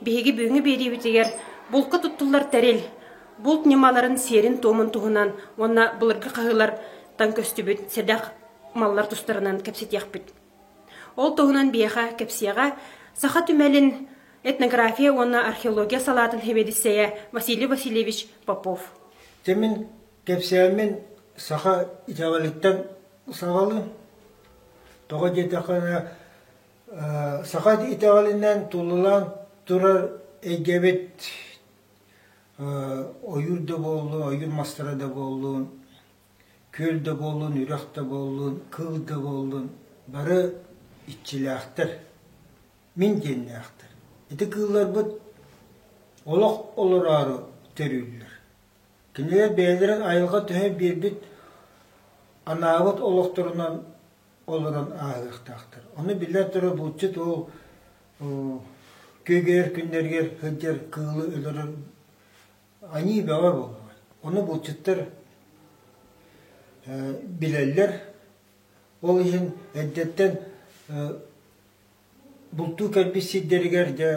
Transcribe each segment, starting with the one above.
Биһиги бүгүҥҥү биэриибитигэр булка туттуллар тэрил, булт ньымаларын сиэрин-туомун туһунан уонна былыргы хаһыылартан көстүбүт сэдэх маллар тустарынан кэпсэтиэхпит. Ол туһунан биһиэхэ кэпсиэҕэ саха түмэлин этнография уонна археология салаатын сэбиэдиссэйэ Василий Васильевич Попов. Тимин кэпсээммин саха итэҕэлиттэн саҕалы. Тоҕо диэтэххэ, Саха итэҕэлинэн туллан турар эйгэбит ойуур да буоллун, ойуур мастара да буоллун, күөл да буоллун, үрэх да буоллун, кыл да буоллун, бары иччилээхтэр, мин диэннээхтэр. Ити кыылларбыт олох олороору төрүүллэр. Кинилэр бэйэлэрин айылҕа төһө биэрбит анаабыт олохторунан олорон ааһыахтаахтар. Ону биллэр турар булчут ол күөгэр күннэригэр сылдьар кыылы өлөрөр аньыы бөҕө буолуо. Ону булчуттар билэллэр. Ол иһин эддэттэн бултуу кэлбит сирдэригэр дьэ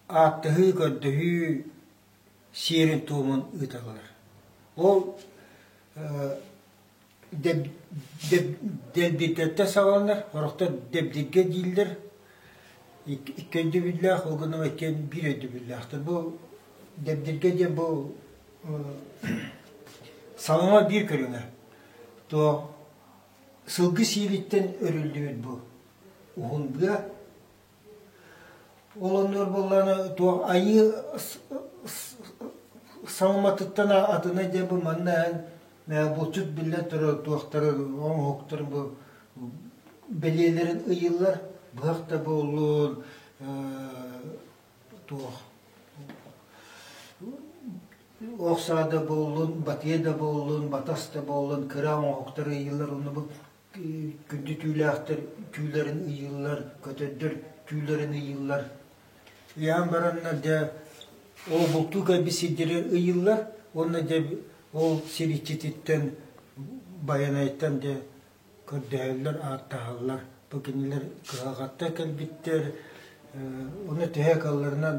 ааттаһыы, көрдөһүү сиэрин-туомун ыыталлар. Ол дэбдиттэ саҕаланар орохто дэбдиггэ дииллэр икки өйдөбүллээх ол гынан иккиэн биир өйдөбүллээхтэр бу дэбдиргэ диэн бу саҥа биир көрүҥэ то сылгы сиилиттэн өрүллүбүт бу уһунбуя Олоннор буоллаҕына туох айыы саҥаматыттан атына диэн бу манна эн булчут биллэн турар туохтарын оҥоһуктарын бу бэлиэлэрин ыйыыллар быһах да буоллун туох ох саа да буоллун батыйа да буоллун батас да буоллун кыра оҥоһуктар ыйыыллар онно бу Күндүтүүлээхтэр түүлэрин ыйыыллар, көтөрдөр түүлэрин ыйыыллар. Ыйаан бараннар дьэ ол бултуу кэлбит сирдэрэ ыйыыллар уонна дьэ ол сир иччититтэн Байанайтан дьэ көрдөһөллөр, ааттаһаллар. Бу кинилэр кыһалҕаттан кэлбиттэр. Ону тэһэ калларынан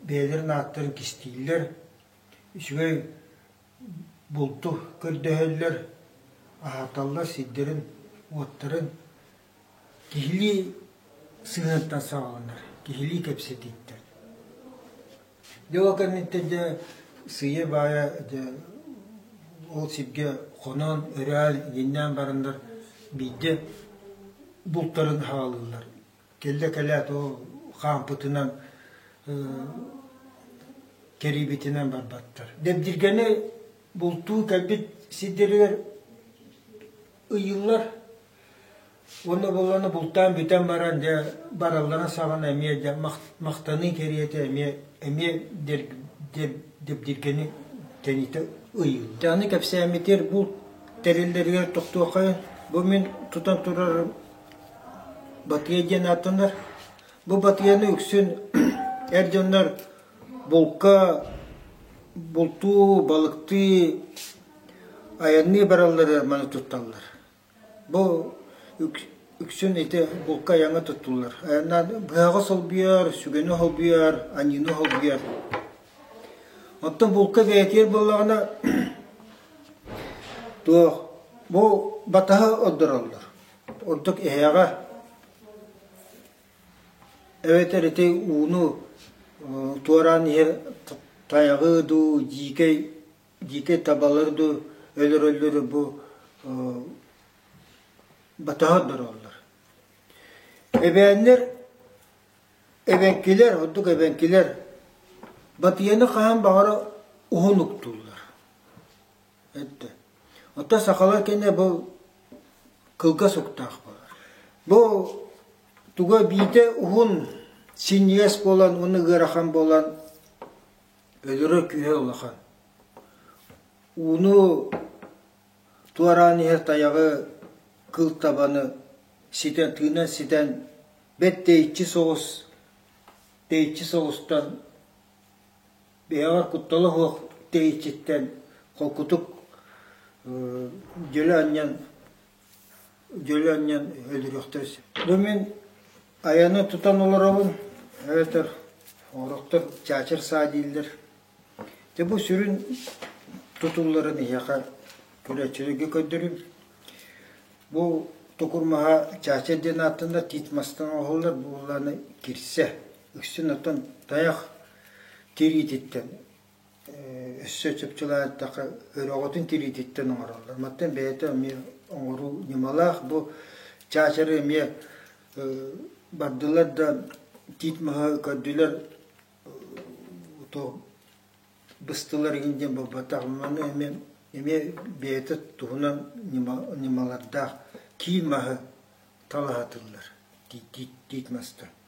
бэйэлэрин ааттарын кистииллэр. Үчүгэй булту көрдөһөллөр, аһаталлар сирдэрин, уоттарын, киһилии сыһыантан саҕаланар, киһилии кэпсэтииттэр. Дьэ ол кэнниттэн дьэ сыыйа-баайа дьэ ол сиргэ хоноон, өрөөн, иэннээн бараннар биирдэ бултарын хаалыыллар. кэллэ-кэлээт ол хаампытынан кэрийбитинэн барбаттар. Дэбдиргэни бултуу кэлбит сирдэригэр ыйыллар уонна булланы бултаан бүтэн баран дьэ бараллара саҕана эмиэ дьэ махтаныы кэриэтэ эмиэ эмиэ дэбдиргэни тэниитэ ыйыыллар. Дьаны кэпсээммитигэр булт тэриллэригэр тохтуоххайын бу мин тутан турар Батыйа диэн ааттанар. Бу батыйаны үксүн эр дьоннор булка, бултуу, балыктыы, айанныы бараллара маны тутталлар. Бу үксүн ити булка айаҥҥа туттуллар. Айаннаан быһаҕы солбуйар, сүгэни холбуйар, аньыыны холбуйар. Оттон булка бэйэтигэр буоллаҕына, туох бу батаһы ордороллор. Ордук эһэҕэ эбэтэр ити ууну туораан иһэ тайҕыы дуу, дьиикэй дьиикэй табалар дуу өлөрөллөр бу ботоһордорооллор. Эбээннэр эбэҥкилэр, ордук эбэҥкилэр батыйаны хаһан баҕара уһун уктууллар. Өттө. Оттон сахалар кэннэ бу кылгас уктаах буолар. Бу туга биирдэ уһун синньигэс буолан уонна ыарахан буолан өлөрө күүһэ улахан. Ууну туораан иһэр тайаҕы кыл табаны ситэн тыынан ситэн бэт тэйиччи соҕус тэйиччи соҕустан Бэйэҕэр куттала суох тэйиччиттэн холкутук дьөлө анньан дьөлө анньан өлөрүөхтэрэ сөп. Бу мин айаны тутан олоробун эбэтэр орохтор чаачар саа дииллэр. Дэ бу сүрүн тутулларын иһиэхэ көрөөччүлэргэ көрдөрүм. Бу тукурмаһа чаачар диэн ааттанар тит мастан оһоллар бууланы кирсе Үксүн оттон тайах тириититтэн өссө чупчулаатахха өрөҕөтүн тириититтэн оҥороллор. Мантан бэйэтэ эмиэ оҥоруу ньымалаах. Бу чаачары эмиэ бардылар да тиит маһы көрдүлэр быстылар игин диэн буолбатах. Маны эмиэ эмиэ бэйэтэ туһунан ньымалардаах киин маһы талаһатыллар тиит тиит мастан.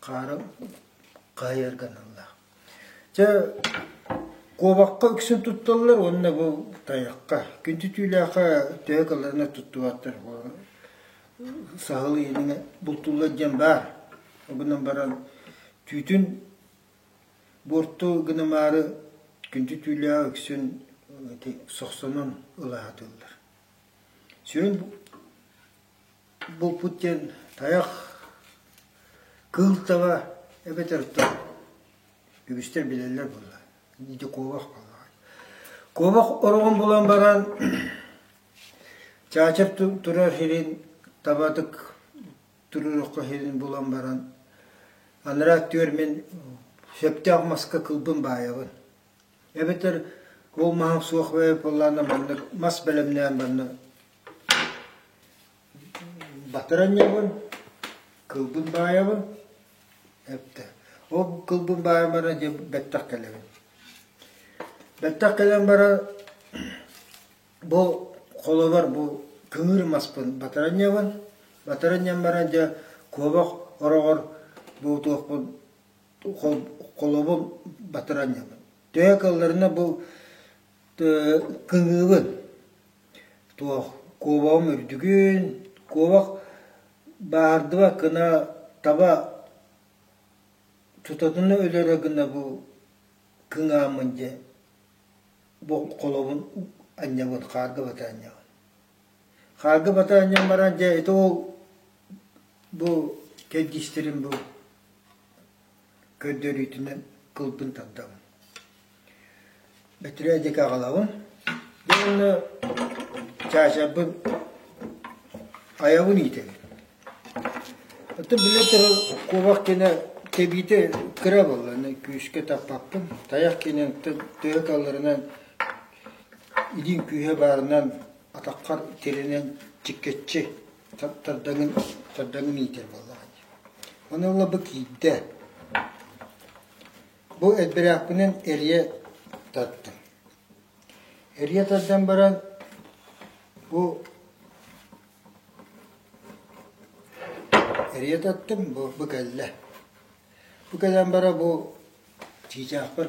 хаара хаайар гыналлаах. Чэ, куобахха үксүн тутталлар уонна бу тайахха. Күнтүтүүлээхэ төһө кылларына туттубаттар. Саһыл иэниҥэ бултууллар диэн баар. Обунан баран түүтүн буорту гынымаары күнтүтүүлээх үксүн сохсонон ылаатыллар. Сүрүн Булпут диэн тайах кыыл таба эбэтэр тор. Үгүстэр билэллэр буолла. Диди куобах буолла. Куобах ороҕун булан баран чаачап турар сирин табатык турурукка сирин булан баран анараа түөр мин сөптөөх маска кылбын баайабын эбэтэр ол маһым суох бэйэ пыллаана маннык мас бэлэмнээн барна Батыран ньыгабын, кылбын баайабын, эптэ. Ол кылбын баайан баран дьэ бэттэх кэлэбин. Бэттэх кэлэн баран бу холобор бу кыҥыыр маспын батыран ньыгабын. Батыран ньыйан баран дьэ куобах ороҕор бу туохпун холобун батыран ньыгабын. Төһө кылларына бу кыҥыыбын Туох, куобаҕым үрдүгүн, куобах бааһырдыба гына таба тутатына өлөрө гына бу кыҥааммын дьэ холобун анньабын, хаарга батаанньабын. Хаарга батаанньан баран дьэ ити ол бу кэрдиистэрим бу көрдөрүүтүнэн кылбын тардабын. Бөтүрөө диэки аҕалабын. Уонна чаачарбын айабын иитэбин. Оттон биллэ турар куобах кенэ тэбиите кыра болланы күүскэ таппаппын. Таяқ кенен тыа калларынан илин күүһэ баарынан атаххар тиринен чиккетчи тардыҥын тардыҥын иитэр буоллаҕа дии. Ону ылла бу киирдэ. Бу эдбирэхпинэн эрийэ таттым. Эрийэ тардан баран бу эрийэ таттым бу бу кэллэ. Бу кэлэн бара бу чыычаахпар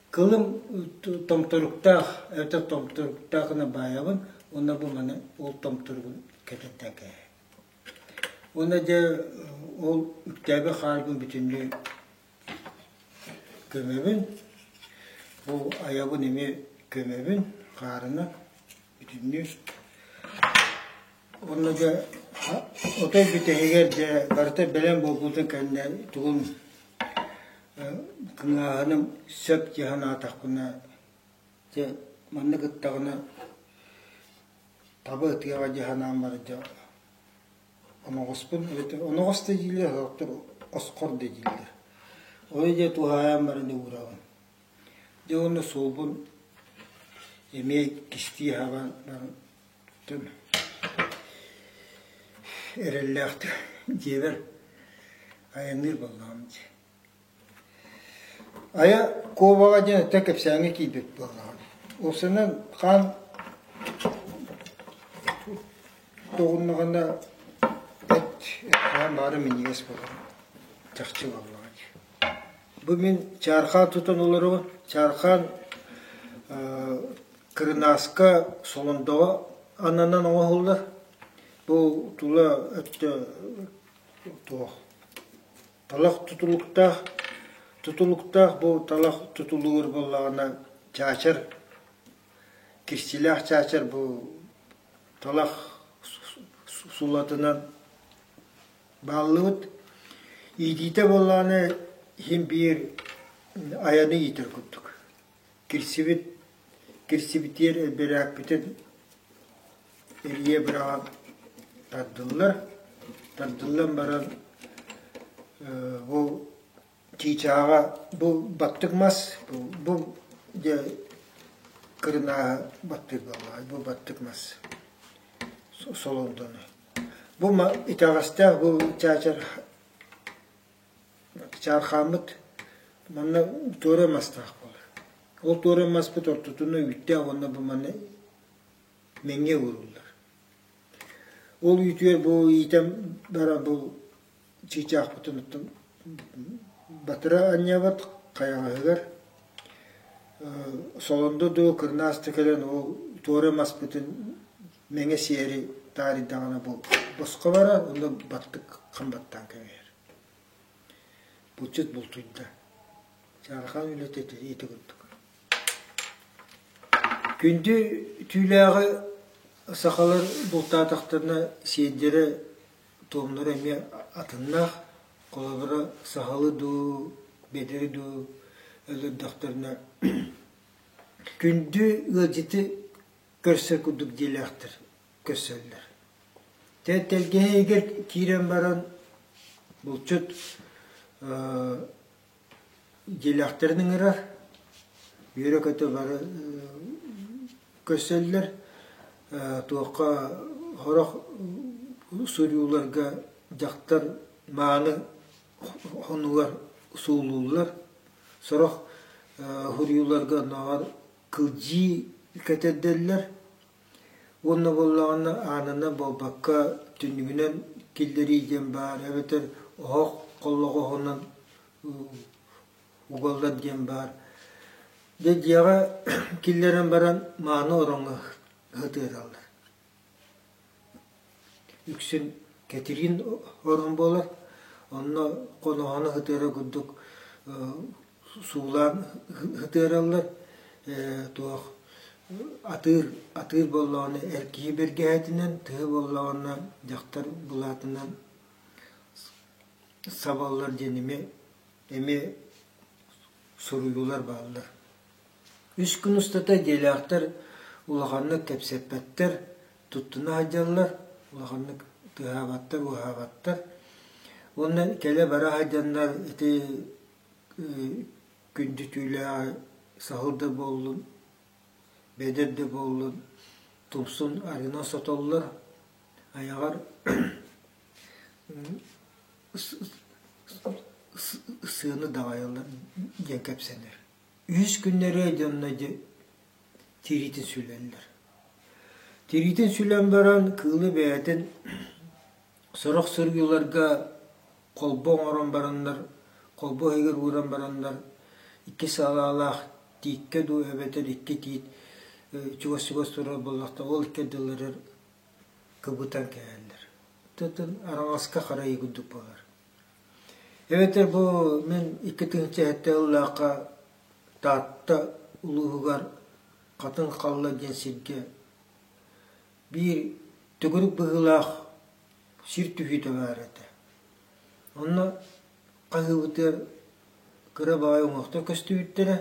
Кылым томторуктаах, эбэтэр томторуктаах гына баайабын уонна бу маны ол томторугун кэтэттэгэ. Уонна дьэ ол үктээби хаарбын бүтүннүү көмөбүн, бу айабын эмиэ көмөбүн хаарына Бүтүннүүр. Онно дьэ отой бүтэһигэр дьэ барыта бэлэм буолбутун кэннэ тугун кыҥааһыным сөп дии санаатахпына дьэ манна кыттаҕына таба ытыаҕа дии санаан бара дьэ оноҕоспун эбэтэр оноҕос да дииллэр оскор да дииллэр. Ой дьэ туһаайан баран да уураҕын. Дьэ уонна суолбун эмиэ кистии аһаан эрэллээхтик дьиэбэр айанныыр буоллаҕым дии. Айа Куобаҕа диэн өттө кэпсээҥҥэ киирбит буоллаҕым. Ол санан хаан тоҕуннаҕына эт хаан баара минньигэс буолар чахчы буоллаҕа дии. Бу мин чаархаан тутан олору чаархаан кырынааска солондоҕо аннынан оҥоһуллар. Бу тула өттө туох талах тутулуктаах тутулуктаах бу талах тутулугур буоллаҕына чаачар кирсилээх чаачар бу талах сулатынан Бааллыбыт. Иитиитэ буоллаҕына иһин биир айаны иитэр курдук. Кирсибит кирсибитиэр элбэрээкпитин эрийэ быраҕа тардыллар. Тардыллан баран бу Чыычааҕа бу баттык мас, бу бу дьэ кырынааҕы баттык буолуоҕай, бу баттык мас Солоҥдону. Бу ма итэҕэстээх бу чаачар чаархааммыт манна туора мастаах буолар. Ол туора маспыт ортотуна үүттээх уонна бу манна мэҥиэ ууруллар. Ол үүтүгэр бу иитэ бара бу чыычаахпытыныттан батыра анньабыт хайаҕаһыгар солондо дуу кырнаас да кэлэн ол туора маспытын мэҥэ сиэри таарыйдаҕына босхо барар онно баттык хам баттаан кэбиһэр булчут бултуйда чаархан үлэтэ ити курдук күндү түүлээҕи сахалар бултаатахтарына сиэрдэрэ туомнара эмиэ атыннаах. Холобура, сахалы дуу, бедери дуу өлөрдөхтөрүнэ күндү ыалдьыты көрсөр курдук диэлээхтэр көрсөллөр. Тэ тэлгэһэ киирэн баран булчут Дьиэлээхтэрин ыҥырар, үөрэ-көтө бары көрсөллөр, туохха сорох суруйууларга дьахтар мааны хонуулар суулууллар, сорох суруйууларга оннооҕор кылдьыы кэтэрдэллэр. Уонна буоллаҕына аанына буолбакка, түннүгүнэн киллэрии диэн баар эбэтэр оһох холлоҕоһунан угаллар диэн баар. Дьэ дьиэҕэ киллэрэн баран мааны ороҥҥо сытыараллар Үксүн Кэтириин орон буолар, онно хоноһону ытыара курдук суулаан ытыараллар, туох атыыр атыыр боллоҕуну эр киһи бэргэһэтинэн, тыа боллоҕуна дьахтар былаатынан сабаллар диэн эмиэ эмиэ суруйуулар бааллар Үс күн устата идиэйэлээхтэр улаханнык кэпсэппэттэр, туттуна сылдьаллар, улаханнык тыаһаабаттар-быыһаабаттар. Уонна кэлэ-бара сылдьаннар ити күндүтүүлээҕи саһыл да буоллун, бэдэр да буоллун, тумсун арыынан сотоллор, айаҕар сыаны даҕайаллар диэн кэпсэнэр үһүс күннэрэ дьонно тириитин сүлэллэр. Тириитин сүлэн баран кыылы бэйэтин сорох сырыыларга холбо оҥорон бараннар, холбо иһигэр ууран бараннар, икки салаалаах тииккэ дуу эбэтэр икки тиит чугас-чугас турар буоллахтар, ол икки ардыларыгар кыбытан кэлэллэр. Тутун араҥаска харайыы курдук буолар. Эбэтэр бу мин икки тыһыынча сэттэ сыллаахха Таатта улууһугар Хатыҥ Халла диэн сиргэ биир төгүрүк быһыылаах сир түһүүтэ баар этэ. Онно хаһыыбытыгар кыра баҕайы уҥуохтар көстүбүттэрэ.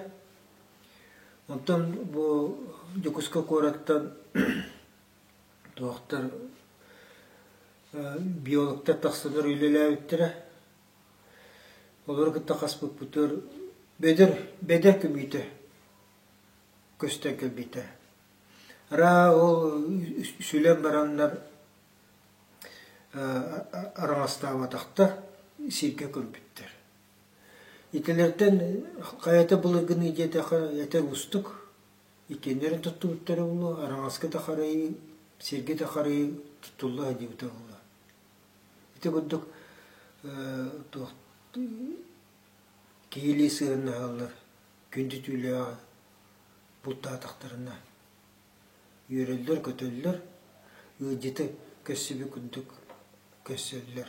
Оттон бу Дьокуускай куораттан Доктор биологтар тахсалар үлэлээбиттэрэ. Олору кытта хаспыппытыгар бөдөр бэдэр көмүүтэ көстөн кэлбитэ. Араа ол сүлэн бараннар араҥастаабатахтар, сиргэ көрбүттэр. Итилэртэн хайата былыргыныы диэтэхэ этэр уустук, Иккиэннэрин туттубуттара буолуо, араҥаска да харайыы, сиргэ да харайыы туттулла сылдьыбыта буолуо. Ити курдук туох киһилии сыһыаннаһаллар, күндү түүлээҕи бултаатахтарына үөрэллэр-көтөллөр, ыалдьыты көрсүбүт курдук көрсөллөр.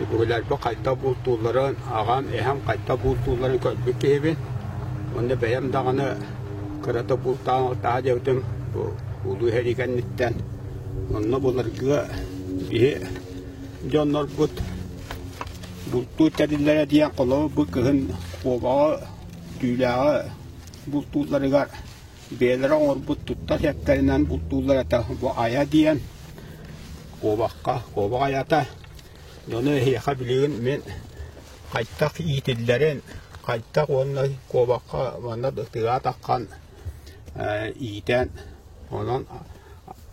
Үһүлэрбэ хайда бултуулларын, аҕам, эһэм хайда бултуулларын көрбүт киһибин. Уонна бэйэм даҕаны кыра да бултааһа диэбитим бу улуу иһэрии кэнниттэн. Онно былыргы киһи дьоннорбут бултуу тэриллэрэ диэн холобур бу кыһын куобаҕы түүлээҕи бултуулларыгар бэйэлэрэ оҥорбут туттар сэптэринэн бултууллар этэ бу айа диэн куобахха куобах айата дьону эһиэхэ билигин мин хайдах иитиллэрин хайдах уонна куобахха манна тыгаа таххан иитэн онон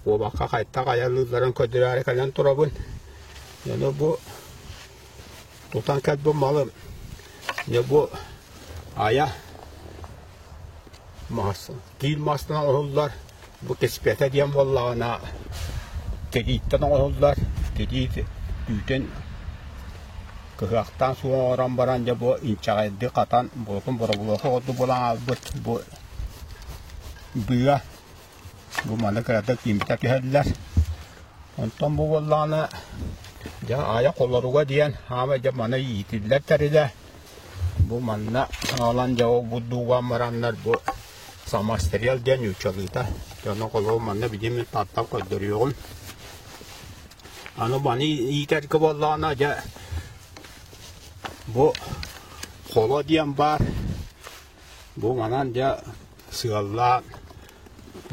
куобахха хайдах айалыылларын көрдөрөөрү кэлэн турабын дьону бу Тутан кэлбит малым дьэ бу айа массыына тиил массыына оһуллар бу кэспиэтэ диэн буоллаҕына тирииттэн оҥоһуллар тириит түүтүн кыһыахтаан суох оҥорон баран дьэ бу инчэҕэйдик хатан буотун боробулуоха курдук булан аҕалбыт бу быа Бу маны кыратык тиимтэ түһэллэр. Онтон бу буоллаҕына, дьэ, аайа холоруга диэн хаамай дьэ маны иитиллэр тэрилэ. Бу манна аалан дьэ ол бурдуугаан бараннар бу самострел диэн ньуучалыыта. Дьоно холоо манна бидим тартан көрдөрүөҕүм. Аны маны иитэргэ буоллаҕына, дьэ, бу холо диэн баар. Бу манан дьэ сыаллаан,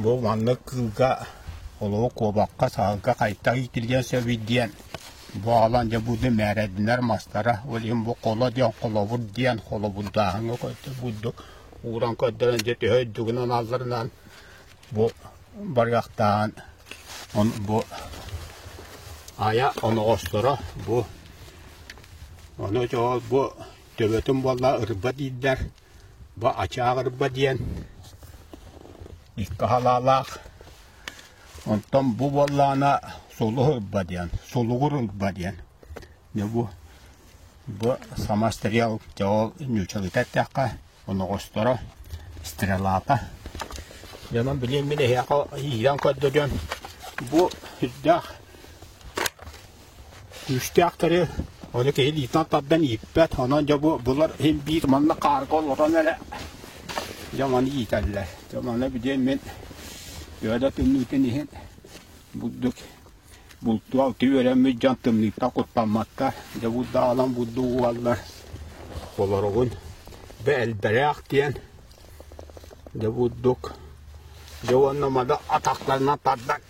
бу маннык кыылга олоҕу куобахха, саһылга хайдах иитиллиэн сөбүй диэн баалан дьэ бу мээрэдинэр мастара, ол иһин бу холо диэн холобур диэн холобурдааһыҥҥа курдук ууран көрдөрөн дьэ төһө үрдүгүнэн аналларынан бу барыахтааҕын он бу Ая оноҕосторо бу ону чоҕол бу төбөтүн буолла ырба дииллэр, бу ачаах ырба диэн икки халаалаах. Онтон бу буоллаана сулух ырба диэн, сулугур ырба диэн. Не бу бу сама стрел дьол ньучалыта эттэххэ оноҕосторо стрелата. Янам билиэн мин эһиэхэ иирэн көрдөрөн бу үрдээх күүстээхтэри оны киһи илиитинэн тардан ииппэт онон дьэ бу булар иһин биир манна карго олорон эрэ дьэ маны иитэллэр дьэ маны бидиэн мин үөдэ тымныытын иһин бурдук бултуу алты үөрэммит дьон тымныыттан куттамматтар дьэ бурдаалан бурду угаллар олоругун бэ элбэлээх диэн дьэ бурдук дьэ уонна мада атахтарынан тардан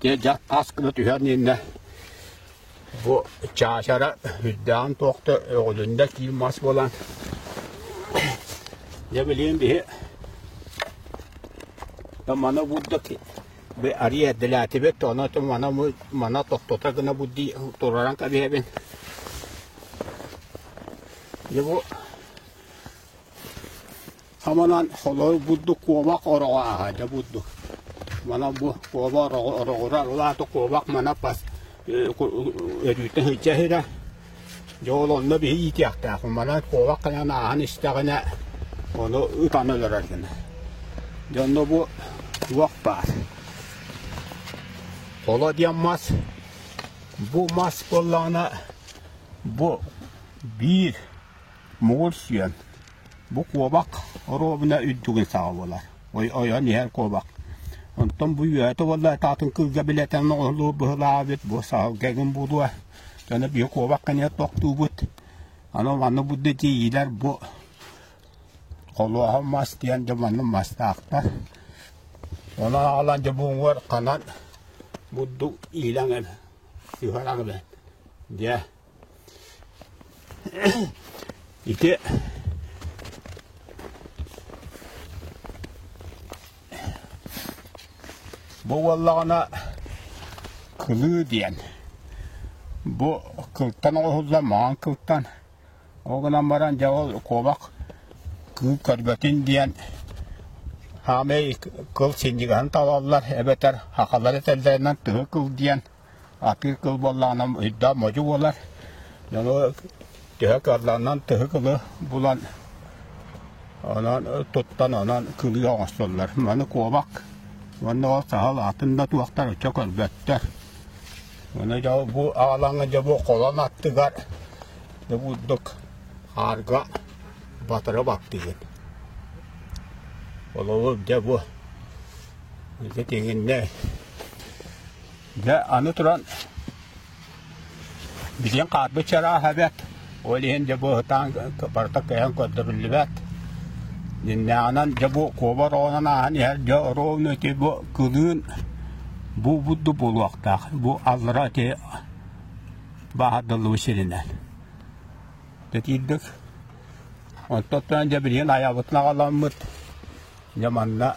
Дьэ, дьах таас гына түһэн иннэ бу чаачара үрдээҕин туохта өҕүлүннэ киин мас буолан дьэ билигин биһи да мана бурдук бы ария делятибет то она то мана мы мана тохтота гына будди тураран кабиһэбин дьэ бу Саманан холой курдук куобах ороҕо ааһа дьэ бурдук. Манан бу куобах ороҕо ороҕура ылааты куобах мана пас өрүүтэ сылдьа сыра дьэ ол онно биһи иитиэхтээх мана куобах кынан ааһан истэҕинэ ону ытан өлөрөр гына дьэ онно бу туох баар холо диэн мас бу мас буоллаҕына бу биир Муҥур сүөм. Бу куобах оруобуна үрдүгүн саҕа буолар. ойон иһэр куобах. Онтон бу үөһэ туолла таатын кыылга билэтэн оҕолуу быһылаабыт, бу саһылгагын буолуо. Дьоно биһи куобах кэнигэр тохтуубут. Аны манна будда тиийиилэр бу холуоһа мас диэн дьэ манна мастаахтар. Онон аҕалан дьэ буҥуор ханан будду иилэҥ үһэрэҥ дьэ Ити бу буоллаҕына кылыы диэн. Бу кылтан оҕуһулла маҥан кылтан. Ол гынан баран дьэ ол куобах кыыл көргөтүн диэн хаамай кыл синньигаһын талаллар эбэтэр хахалар этэллэринэн тыһы кыл диэн Атыыкыл буоллаҕынан ыйда модьу буолар. Дьону төһө кыаллаанан тыһы кылы булан онон туттан онон кылыы оҥостоллор. Маны куобак уонна ол саһыл атын да туохтар оччо көрбөттөр. Аны дьэ бу аалаҥа дьэ бу холон аттыгар да бурдук хаарга батыра баттыгын. Олобу дьэ бу ити тиҥинне Дьэ, аны туран, билиҥ хаарбыт чарааһа бэт, ол иһин дьэ бу ытаан барыта кэйэн көрдөрүллүбэт. Иннээҕинэн дьэ бу куобар оҕонон ааһан иһэр дьэ оруовун эти бу кылыын буубудду буолуохтаах. Бу аллара эти баһардыллыбы сиринэн. Тэтиирдик Онтон дьэ билигин айабытын аҕаламмыт. Дьэ манна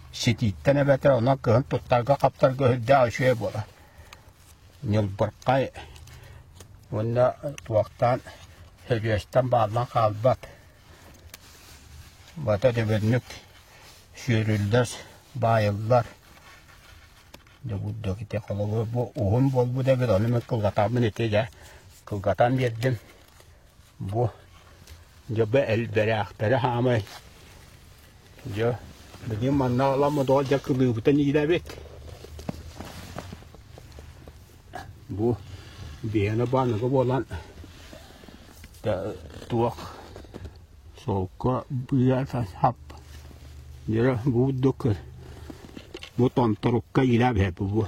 ситииттэн эбэтэ онон кыһын туттарга-хаптарга үрдээх үчүгэй буолар. Ньылбырхай уонна туохтаан сөдүөстэн бааллан хаалбат. Бата дөбөннүк сүөрүллэр, баайыллар. Дегуддоките холобур бу уһун буолбут эбит, ону мен кылгатаммын ити дэ кылгатан бердим. Бу дьэ элбэрээхтэрэ хаамай. Дьэ билигин манна аламмыт оҕо дьэ кылыыбытын иилэбит. Бу биһиэнэ бааныга буолан туох солко быа сап дьэ бу курдук бу тонторукка иилэбиһэ бу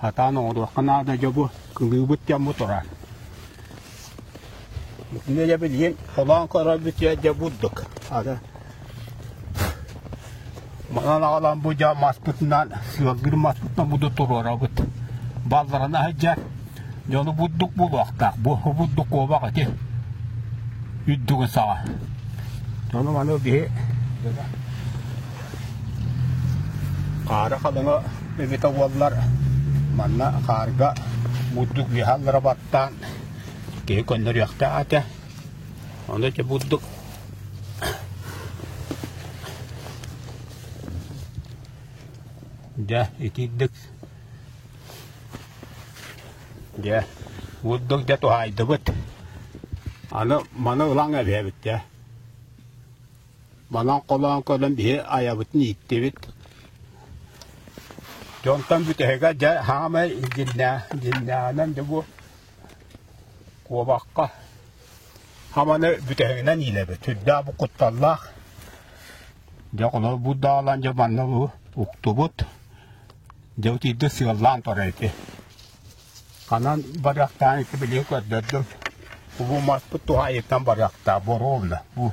Сатаан оҥоруохха наада дьобу, кылыыбыт дьомму турар. Итини дьэ билигин холоон көрөрбүт дьэ бурдук. Аны манан аҕалан бу дьа маспытынан, сыалгыр маспытынан буду туруорабыт. Балларан аһыдьа, дьону бурдук булуохтаах. Бу бурдук куобах ити үрдүгүн саҕа. Дьону маны биһи Хаары Хадаҥа эбитэ буоллар, манна хаарга бурдук ыаһаллара баттаан, киһи көннөрүөхтээх этэ. Ону ити бурдук дьэ итиирдик дьэ бурдук дьэ туһаайдыбыт. Аны маны ылан эбиэбит дьэ. Манан холоон көрөн биһи айабытын ииттибит. Дьонтон бүтэһигэ дьэ хаамай дьиннээ дьиннээнэн дьэ бу куобахха хаманы бүтэһигинэн иилэбит. Сүрдээх бу кутталлаах. Дьэ холо бу даалан дьэ манна бу уктубут. Дьэ утийды сыаллаан турар ити. Ханан барыахтаан ити билии көрдөрдүм. Убуматпыт туһайыттан барыахтаа боруовна. Бу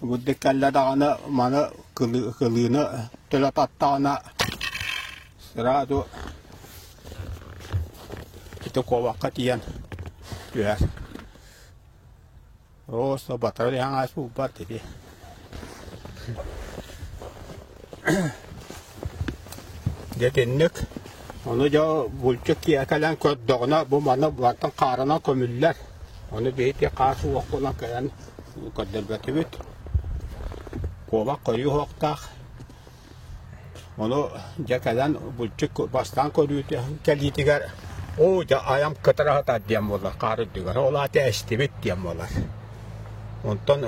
Будда кэллэ даҕаны маны кылы- кылыыны төлө таттаҕына сразу ити куобахха тиийэн түһэр. Оо, соботор эҥээс буолбат ити Дэтинник Ону дьэ булчут киһи кэлэн көрдөҕүнэ бу маны бартан хаарынан көмүллэр. Ону бэйти хаар суох булан кэлэн көрдөрбөтүбүт. Куобах көрүү хоқтаах. Ону дьэ кэлэн булчут бастаан көрүүтэ кэлиитигэр оо дьэ айам кытыраһата диэн буолар хаар үрдүгэр. Ол аата эстибит диэн буолар. Онтон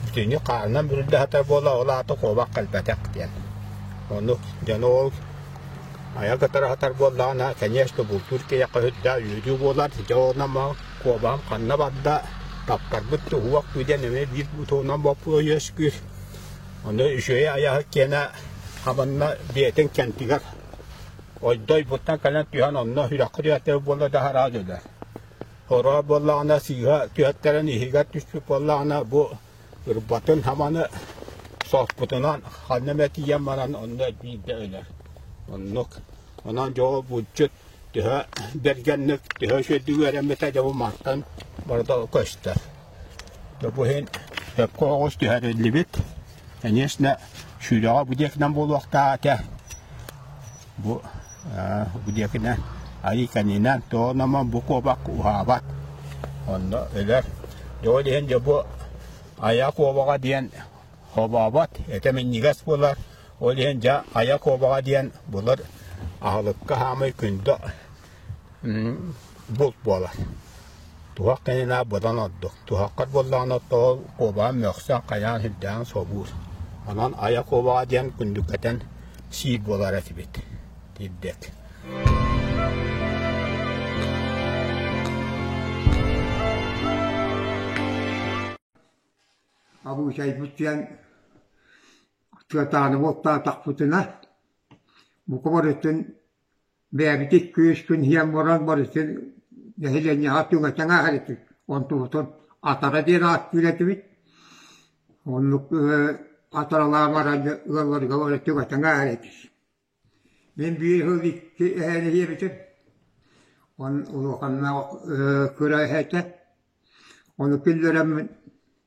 итини хаанынан бүрүллэһэтэ буола ол аата куобах кэлбэтэх диэн. Ону дьону ол айа кытары сатар буоллаҕына, конечно, бултуур киһиэхэ сүрдэ үөрүү буолар. Дьэ ол нама куобаҕын ханна барда, таппарбыт да уһуох дуу диэн эмиэ биир бутуунан боппула үөскүүр. Ону үчүгэй айаһыт киэнэ хабанна бэйэтин кэнтигэр ойдой буттан кэлэн түһэн онно сүрэххэ түһэртэр буола да араас өлөр. Хороох буоллаҕына сыыһа түһэттэрэн иһигэр түспүт буоллаҕына бу ырбатын хаманы соспутунан ханна эмэ тиийэн баран онно биирдэ өлөр. Оннук. Онон дьоҕу булчут төһө бэргэнник, төһө үчүгэйдик үөрэммитэ дьэ бу мантан барыта көстөр. Бу иһин сөпкө оҕус түһэриллибит. Конечно, сүүрөҕө будекынан буолуохтаах этэ. бу бу диэкинэн айыканинан тоономо бу куобак уһаабат онно өлөр дьоо диһен дьо бу ая куобаҕа диэн хобообот этэ минньигэс булар ол иһин дьа ая куобаҕа диэн булар аһылыкка хаамый күндө булт буолар. Туһах кэнинэ быдан ордук. Туһаххар буоллаҕына тоҕо куобаҕын мөхсөн, хайаан сирдээн собуур. Онон айа куобаҕа диэн күндүкэтэн сиир буолар этибит. Тирдек. Абуучайбутиан тыатааныбуоттаатахпытына, бука барытын Бэйэбитин күүспүн иһэн баран барытын нэһилиэнньэҕэ түҥэтэн аһар этик, онтубутун атара диэн ааттыыр этибит. Оннук атаралаан баран ыалларга бары түҥэтэн аһар этик. Мин биир сыл икки эһэни ийэбитим. Он улаханнаах кыра эһэтэ. Ону киллэрэммин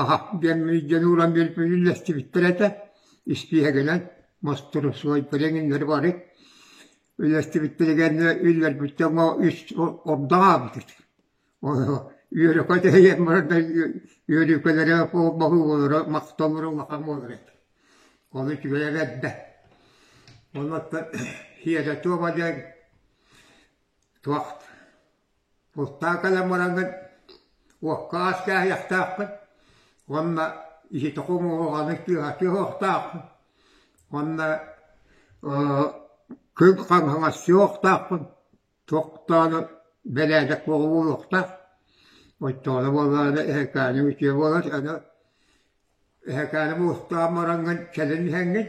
аһа диэн дьону ылан үллэстибиттэр этэ испииһэгинэн мостуруосуой билиҥҥиннэри бары үллэстибиттэригэр үллэрбиттэр үс ордо аҕабыт үөрөкө тэһийэн барарда үөрүүкэлэрэ болуулара махталлара улахан буолара этэ ол үчүгэйэр эрдэ онуоттан хиэрэ туома диэн туох Спектакльмараҥҥын уокка ас кээһиэхтээххин уонна ити токум оҕоҕону тыаһа тыаһыахтааххын уонна күн хаҥаҥас суохтааххын туохтааны бэрээдэк бөҕө буолуохтаах оччоҕуна буоллаҕына эһэкээни үтүө буолар аны эһэкээни муостаан мараҥҥын кэлин иһэҥҥин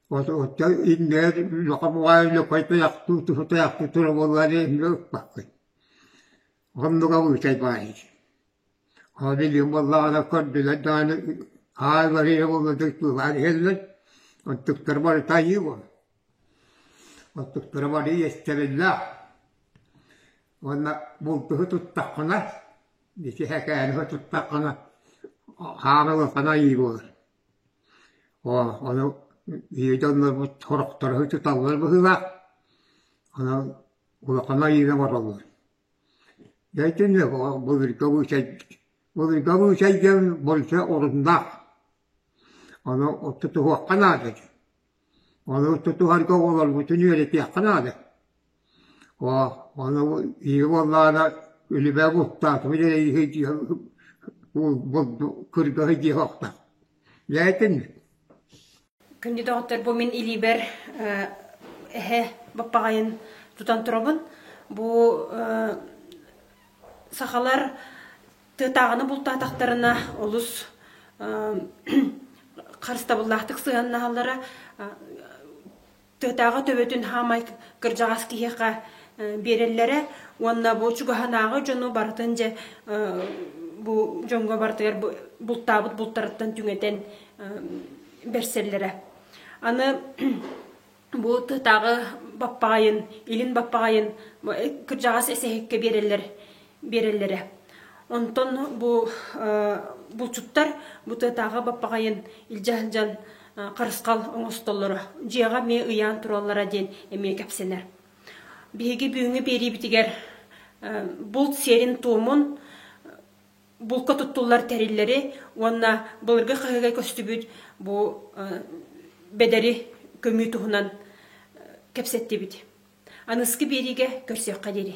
Оттон иннигэр лохомоҕой лөкөй тайахтыы туһу тайахтыы тура буоллаары эмиэ ыппаккын. Оннуга быытай баайыр. Ол билиим буоллаҕына көрдүлэр даҕаны хаа барыйа буолладык туулаан иһэллэр. Оттуктар бары тайыы буол. Оттуктара бары иэстэриллээх. Уонна бултуһу туттаххына, ити хэкээни туттаххына, хаана улахан айыы буолар. Оо, ону Витя оннорбут сорохторо ытыталлар быһыылаах, онон улахан айыыны оҥороллор. Дьэ итинник былыргы обучай, былыргы обучайдьын больше оруннаах, ону тутуһуохха наада дии Ону тутуһарга оҕолоргутун үөрэтиэххэ наада. Оо, ону ийэ буоллаҕына үлүбэ бултаатыбыт эрэ үһү диэн кыргыһы диэх охтор. Лээтинмит Күндү доҕоттор, бу мин илиибэр эһэ баппаҕайын тутан турабын. Бу сахалар тыатааҕыны бултаатахтарына олус харыстабыллаахтык сыһыаннаһаллара тыатааҕы төбөтүн хаамай кырдьаҕас киһиэхэ биэрэллэрэ уонна бу чугаһынааҕы дьону барытын дьэ бу дьоҥҥо барытыгар бултаабыт бултарыттан түҥэтэн берсэллэрэ аны Бу тыатааҕы баппаҕайын, илин баппаҕайын кырдьаҕас эсэһиккэ биэрэллэр биэрэллэрэ. Онтон бу булчуттар бу тыатааҕы баппаҕайын илдьэ сылдьан харысхал оҥостоллоро. Дьиэҕэ эмиэ ыйаан тураллара диэн эмиэ кэпсэнэр. Биһиги бүгүҥҥү биэриибитигэр булт сиэрин-туомун булка туттуллар тэриллэри уонна былыргы хаһыга көстүбүт бу бэдэри көмүү туһунан кэпсэттибит. Аныскы биэриигэ көрсүөххэ диэри.